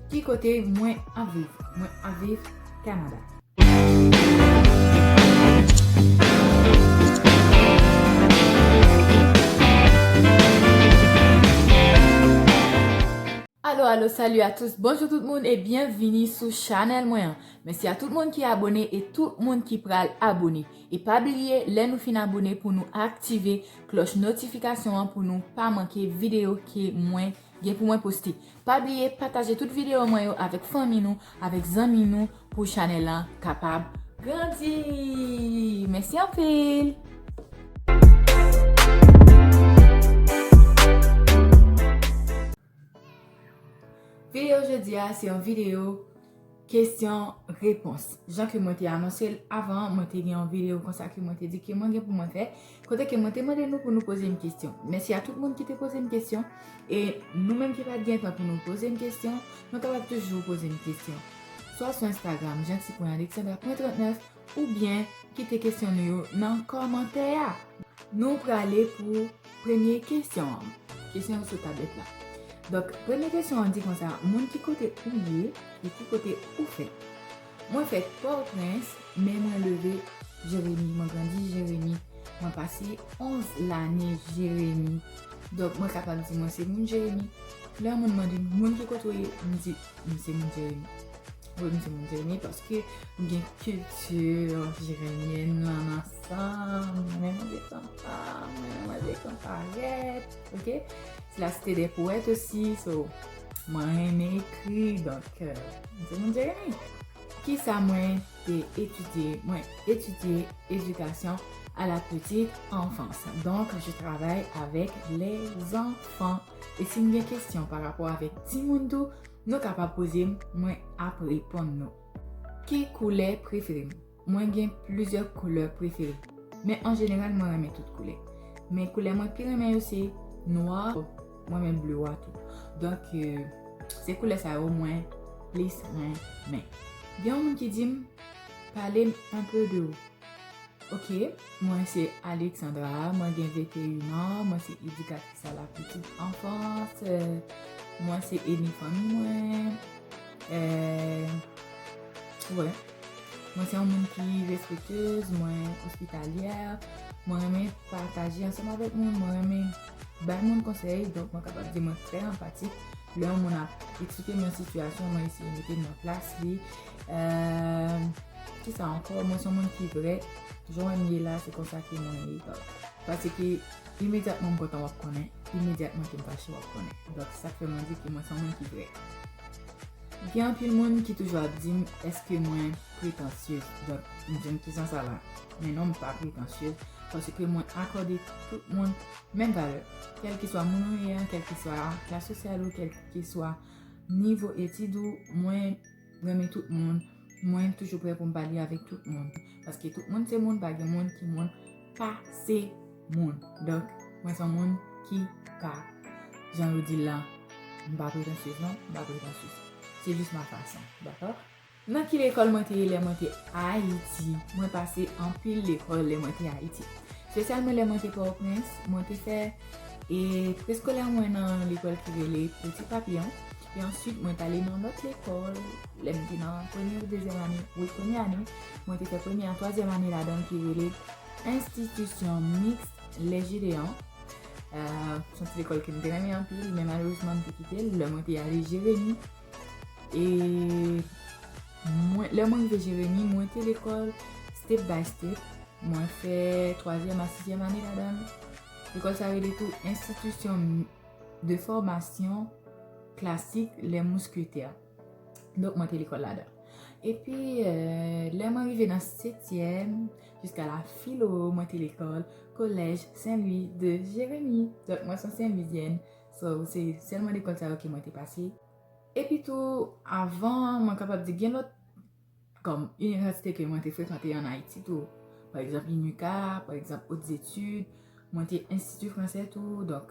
Ki kote mwen ap viv? Mwen ap viv Canada. Alo alo salut a tous bonjou tout moun e byen vini sou chanèl mwen an mèsi a tout moun ki abone e tout moun ki pral abone e pa bliye lè nou fin abone pou nou aktive klòch notifikasyon an pou nou pa manke videyo ke mwen Gen pou mwen poste. Pa bliye pataje tout video mwen yo avek fanmi nou, avek zanmi nou pou chanel lan kapab grandi. Mesi anpil. Video jodi a se yon video. Kesyon, repons. Jan ke mwen te anonse l avan an, mwen te gen yon videyo konsa ke mwen te di ke mwen gen pou mwen fè, kote ke mwen te mande nou pou nou poze m kesyon. Mèsi a tout moun ki te poze m kesyon, e nou menm ki pa t gen tan pou nou poze m kesyon, nou kapab toujou poze m kesyon. Swa sou Instagram, Jeanty-Alexandra.39, Oubyen kite kesyon nou yo nan kòmantè a! Nou prale pou premye kesyon an. Kesyon yo sou tablèt la. Donk, premye kesyon an di konsa, Moun ki kote ou ye e ki kote ou fèt? Mwen fèt Pòtoprens, men mwen leve Jeremi. Mwen grandi Jeremi. Mwen pase 11 lane Jeremi. Donk, mwen kapab di mwen se moun Jeremi. Lè yon moun mande m, moun ki kote ou ye? M di, m se moun Jeremi. Mwen renmen moun Jeremie paske nou gen culture jeremienne lan nan san. Mwen renmen manje kanka, mwen renmen manje kankarèt. Ok? Se la cité des poètes osi. So, mwen renmen ekri. Donk, mwen se moun Jeremie. Kisa mwen te etidye? Mwen etidye edikasyon a la petite enfance. Donk, je travay avèk les enfants. E si nou gen kesyon pa rapò avèk timoun tou, Nou ka pa poze m, mwen ap reponn nou. Ki koulè prefere m? Mwen gen plizyè koulè prefere. Men an jeneral mwen renmen tout koulè. Men koulè mwen pi renmen yo se nwa, mwen renmen ble wa tou. Donk se koulè sa yo mwen plis renmen. Gen yon moun ki di m, pale m anpe de ou. Ok, mwen se Alexandra, mwen gen 21 an, mwen se edikatris. Sa la pitit anfans. Mwen se eni fanmi mwen. Mwen se yon moun ki respetez. Mwen ospitalyè. Mwen renmen pataje ansanm avèk moun. Mwen renmen bay moun konsèy. Donk mwen kapab di mwen trè anpatik. Lè yon moun ap eksplike mwen sitiyasyon mwen eseye mete nan plas li. Ki sa ankò? Mwen se yon moun ki vrè. Jan mwen ye la se konsa ke mwen ye. Pase ke. Imedyatman m kontan w ap konnen, imedyatman ke m fache w ap konnen. Donk se sa k fè mwen di ke mwen se yon moun ki vrè. Gen anpil moun ki toujou ap di m eske mwen pretansyez. Donk m di m ki san sa la? Men non m pa pretansyez paske mwen akòde tout moun menm valè. Kèlkeswa moun ou ye a, kèlkeswa klas sosyal ou, kèlkeswa nivo etid ou, mwen. M renmen tout moun, mwen toujou prè pou m pale avèk tout moun. Paske tout moun se moun, pa gen moun ki moun pa se moun. Donk, mwen son moun ki pa jan yo di la, m pa pretansyez non, m pa pretansyez. Se jis ma fason, dakò? Nan ki lekòl mwen te ye lè mwen te Ayiti? Mwen pase anpil lekòl lè mwen te Ayiti. Spesyalman lè mwen te Pòtoprens, mwen te fè e preskolè mwen nan lekòl ki rele Peti Papiyon. E answit mwen t'ale nan lòt lekòl, lè m te nan premye ou dezyèm ane, wi premye ane, mwen te fè premye a twazyèm ane ladan l ki rele Institution Mixte Les Gédeons. Se yon ti lekòl ke m te renmen anpil men malerezman m te kite l lè mwen te ale Jeremi. E lè mwen rive Jeremi, mwen te lekòl step by step. Mwen fè twazyèm a sizyèm ane ladan l. Lekòl sa rele tou Institution Mixte. 2 fòmasyon klasik lè mousketè. Donk mwen te lekòl la dan. E pi lè mwen rive nan setyèm, jiska la filo, mwen te lekòl, kolèj Sen Lwi de Jeremi. Donk mwen son Sen Lwizyèn. So, se sèlman lekòl sa yo ke mwen te pase. E pi tou, avan mwen kapab di gen lòt. Kòm inivèsite ke mwen te frekante an Ayiti tou, pa egzanp UNICA, pa egzanp Hautes Etudes, mwen te Institut Français tou, donk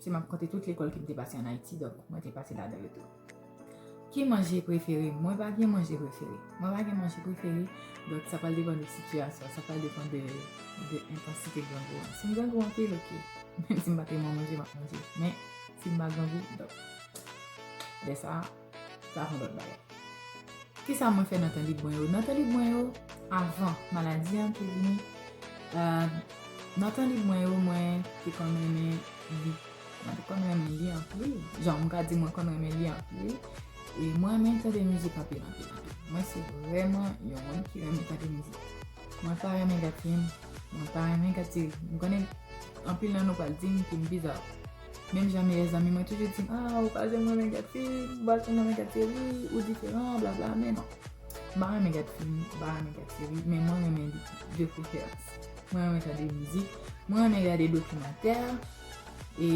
si m ap konte tout lekòl ke m te pase an Ayiti, donk mwen te pase ladan yo tou. Ki manje prefere m? Mwen pa gen manje prefere. Mwen pa gen manje prefere, donk sa pral depann de sitiyasyon, sa pral depann de entansite grangou an. Si m grangou anpil, ok, menm si m pa te man manje, m ap manje. Men, si m pa grangou, donk, lè sa a. Sa a son lòt bagay. Kisa mwen fè nan tan lib mwen yo? Nan tan lib mwen yo, avan maladi an te vini, nan tan lib mwen yo, mwen te konn renmen li. Mwen te konn renmen li anpil. Jan mwen ka di mwen konn renmen li anpil. E mwen renmen tande mizik anpil anpil anpil. Mwen se vreman yon moun ki renmen tande mizik. Mwen pa renmen gad fim. Mwen pa renmen gad seri. M konnen anpil nan nou pral di m ke m bizar. Menm jan meyè zanmi mwen toujou di m a ou pa janm renmen gad film, ou pa janm renmen gad seri, ou diferan, bla bla men non. M pa renmen gad film, m pa renmen gad seri men mwen renmen li dekouvèt. Mwen renmen tande mizik, mwen renmen gade dokimantè e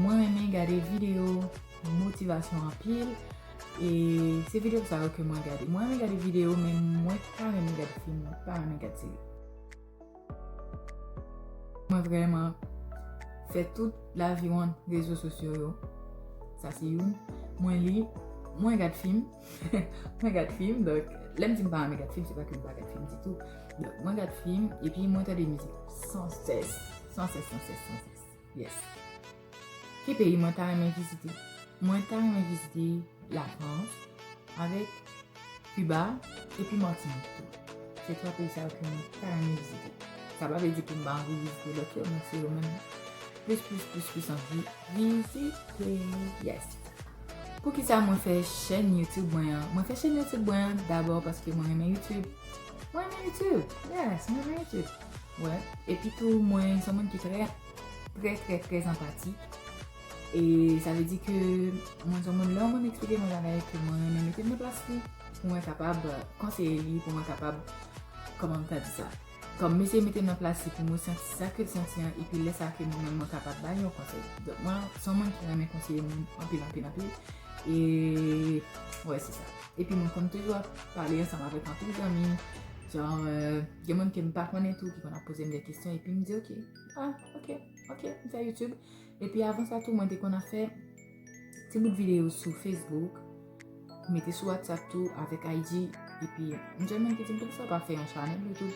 mwen renmen gade videyo motivasyon anpil e se videyo sa yo ke mwen gade. Mwen renmen gade videyo men mwen pa renmen gad film, m pa renmen gad seri. Mwen vreman fè tout lavi mwen rezo sosyo yo. Sa se yon. Mwen li, mwen gad film. Mwen gad film, donk, lèm di mpa renmen gad film, se pa kem pa gad film ditou. Donk, mwen gad film, epi mwen tande mizik. San sès, san sès, san sès, san sès. Yes. Ki peyi mwen ta renmen vizite? Mwen ta renmen vizite la Frans, avèk Kiba, epi Martinik tou. Se twa peyi sa yo ke mwen ta renmen vizite. Sa pa vle di ke m pa anvi vizite lòt yo, men se yo menm plis plis plis plis anvi vizite. Yes. Poukisa mwen fè chèn YouTube mwen an? Mwen fè chèn YouTube mwen an dabò paske mwen renmen YouTube. Mwen renmen YouTube. Yes, mwen renmen YouTube. Wè, epi tou mwen son moun ki trè, trè trè trè zanpati. E sa vle di ke mwen son moun lè mwen eksplike mwen bagay ke mwen mwen mwen mete mwen plas li pou mwen kapab konseye li, pou mwen kapab kòman mwen ta di sa. Kòm mwen se mwen mete mwen plas li pou mwen santi sa ke l santi an epi lè sa ke mwen mwen mwen kapab bay yon konsèy. Donk mwen son moun ki renmen konseye moun anpil anpil anpil. E wè se sa. Epi mwen konn toujou ap pale ansanm avèk anpil zanmi. Jan. Gen moun ke m pa konnen tou ki konn ap poze m de kesyon epi m di ok, ah ok, ok, m fè YouTube. Epi avan sa tou mwen te konn ap fè ti bout videyo sou Facebook, mete sou WhatsApp tou avèk IG. Epi m jwenn moun ki di m poukisa w pa fè yon chanèl YouTube,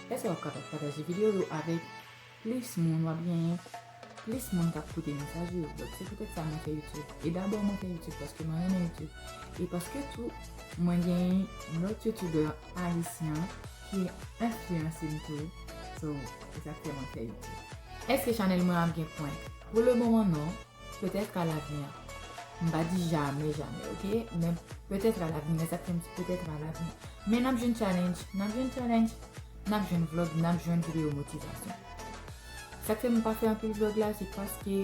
lè sa w ap kapab pataje videyo yo avèk. Plis moun wap genyen, plis moun kap koute mesaj ou yo. Donk se poutèt sa mwen fè YouTube. E dabò mwen fè YouTube paske mwen renmen YouTube. E paske tou mwen gen yon lòt YouTuber ayisyen ki enfliyanse m tou. So, se sak fè mwen fè YouTube. Eske chanèl mwen ap gen pwen? Pou le moman non. Petètre a lavni an. M pa di jamè jamè ok men petètre a lavni mwen tap fè yon ti petètre a lavni. Men nap jwenn challenge, nap jwenn challenge, nap jwenn vlog, nap jwenn video motivation. Sak fè m pa fè anpil vlog la se paske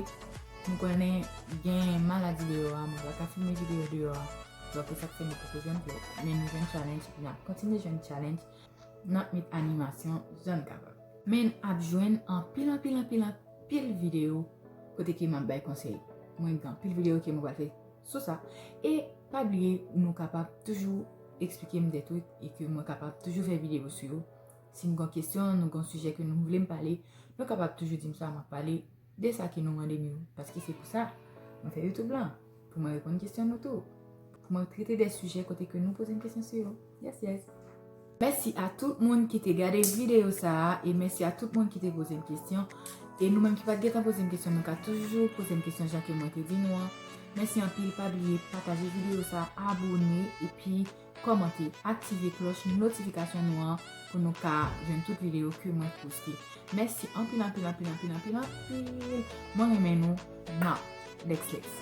m konnen gen maladi deyò a mwen paka filme video deyò a. Donk e sak fè nou poko jwenn vlog. Men nou jwenn challenge epi nap kontinye jwenn challenge. Nap met animasyon jan n kapab. Men n ap jwenn anpil anpil anpil anpil videyo kote ke m ap bay konsèy. Mwen gen anpil videyo ke mwen pral fè sou sa. E pa bliye nou kapab toujou eksplike m dè twik e ke mwen kapab toujou fè videyo sou yo. Si n gen yon kesyon, nou gen yon sijè ke nou vle m pale, nou kapab toujou di m sa, m ap pale. De sa ki nou mande nou, paske se pou sa mwen fè YouTube lan, pou mwen reponn kesyon nou tou, pou mwen trete de sijè kote ke nou poze m kesyon sou yo. Yes yes! Mèsi a tout moun ki te gade videyo sa a, e mèsi a tout moun ki te poze m kesyon. E nou menm ki pat gentan poze m kesyon nou ka toujou poze m kesyon jan ke mwen te di nou an. Mèsi anpil, pa bliye pataje videyo sa, abone, epi. kòmante, aktive klòch notifikasyon nou an pou nou ka jwenn tout videyo ke mwen poste. Mèsi anpil anpil anpil anpil anpil anpil. Mwen renmen nou nan Lex Lex.